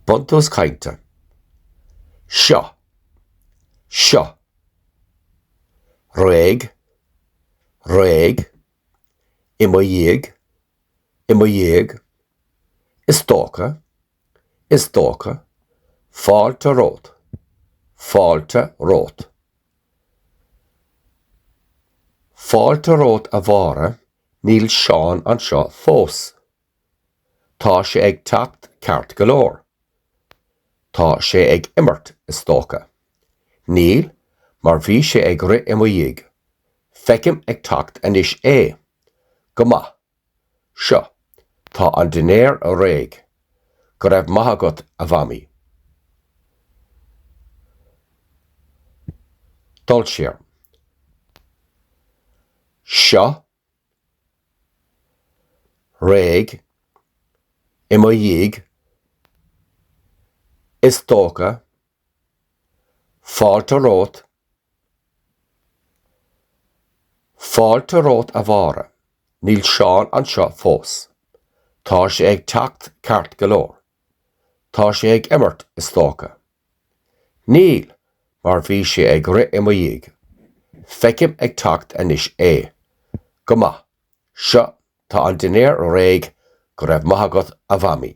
Buntús cainte. Seo. Seo. Réidh. Réidh. I mo dhiaidh. I mo dhiaidh. Is dócha. Is dócha. Fáilte romhat. Fáilte romhat. Fáilte romhat a Mháire, níl Seán anseo fós. Tá sé ag teacht ceart go leor. Tá sé ag imirt, is dócha. Níl, mar bhí sé ag rith i mo dhiaidh. Feicim ag teacht anois é. Go maith. Seo, tá an dinnéar réidh. Go raibh maith agat, a Mhamaí. Dul siar. Seo, réidh i mo dhiaidh, is dócha, fáilte romhat, Fáilte romhat a Mháire, níl Seán anseo fós. Tá sé ag teacht ceart go leor. Tá sé ag imirt, is dócha. Níl, mar bhí sé ag rith i mo dhiaidh. Feicim ag teacht anois é. Go maith. Seo, tá an dinnéar réidh, go raibh maith agat, a Mhamaí.